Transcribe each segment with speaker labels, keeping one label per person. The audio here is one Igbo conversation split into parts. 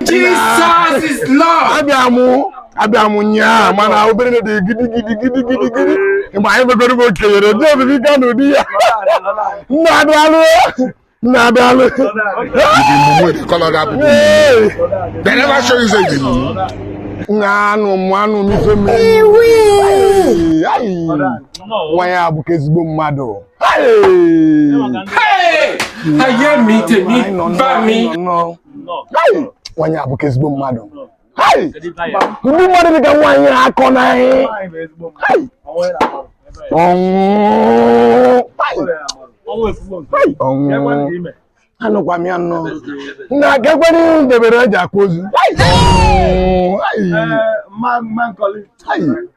Speaker 1: Jesus is Lord. Abịa mụ abịa m ụnyaa mana obere na dị gidi gidi gidi gidi gidi mgbe anyị megoro m okenyere ndị obibi ka na ụdị ya nna daalụ nna daalụ nna anụ mụ anụ m ife nwanyị abụka ezigbo mmadụ ayé mi tèmi bá mi. nwanyị abụka ezigbo mmadụ ụdị mmadụ dịka nwaanyị akọ na ọnwụ anụkwa m ya nnọọ na gakwere ihu debere eji akwa ozu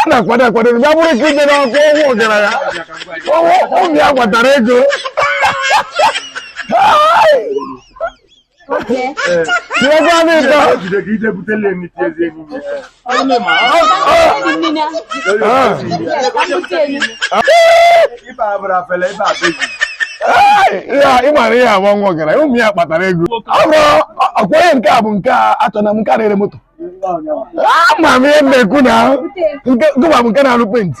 Speaker 1: a na-akwado akwado ya bụrụ ka ije n'ọkụ ọnwụ ọgaranya onye ụmụ ya kpatara ego tinyekwanụ ịtọ ị mara ihe agba nwa gara ụmụ ya kpatara ego ọkwa onye nke a bụ nke a achọ na m nke na-ere moto ama m ihe na-ekwu na gịwa bụ nke na-arụ penti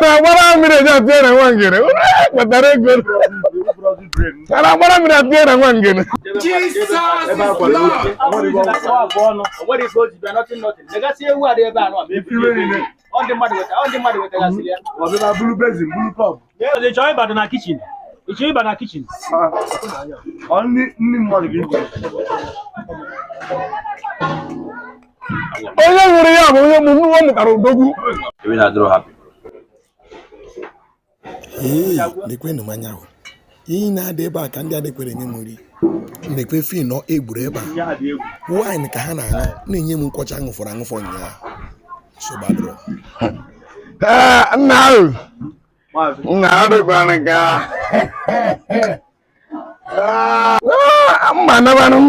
Speaker 2: na-agbara mmiri eji atụ ya na nwa ngene unu kpatara ego a na-agbara mmiri atụ ya na
Speaker 3: nwa ngene Ị chọrọ ịbata na kichin? Ị chọrọ ịba na kichin?
Speaker 1: Ọ nri nri mmadụ ga-eri.
Speaker 4: onye nwụrụ ya bụ onye mụ nwa mụtara
Speaker 5: odogwu ee lekwenụ mmanya ahụ ihe na-adị ebe a ka ndị a lekwenụ m nri lekwe vino e buru ebe a waịn ka ha na-aṅụ na-enye m nkwụ ọcha ṅụfọrọ aṅụfọ ụnyaahụ nsogbu adịrọ
Speaker 1: nna ahụ nna adịkwara nke a mma nabanụ m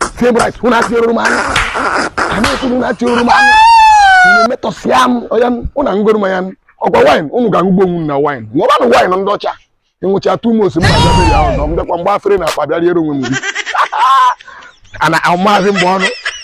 Speaker 5: Fulbright unu atị oruru m anya anyị ekwuru na atị oruru m anya unu metọsịa mmanya unu egoro m ya m ọkwa wine unu ga-aṅụgbo onwe unu na wine ṅụbanụ wine ndị ọcha ị ṅụcha too much m na-abịa burial unu m bịakwa mgbe afere na akpa bịa riere onwe m nri ana ahụ maazị mgbe ọnụ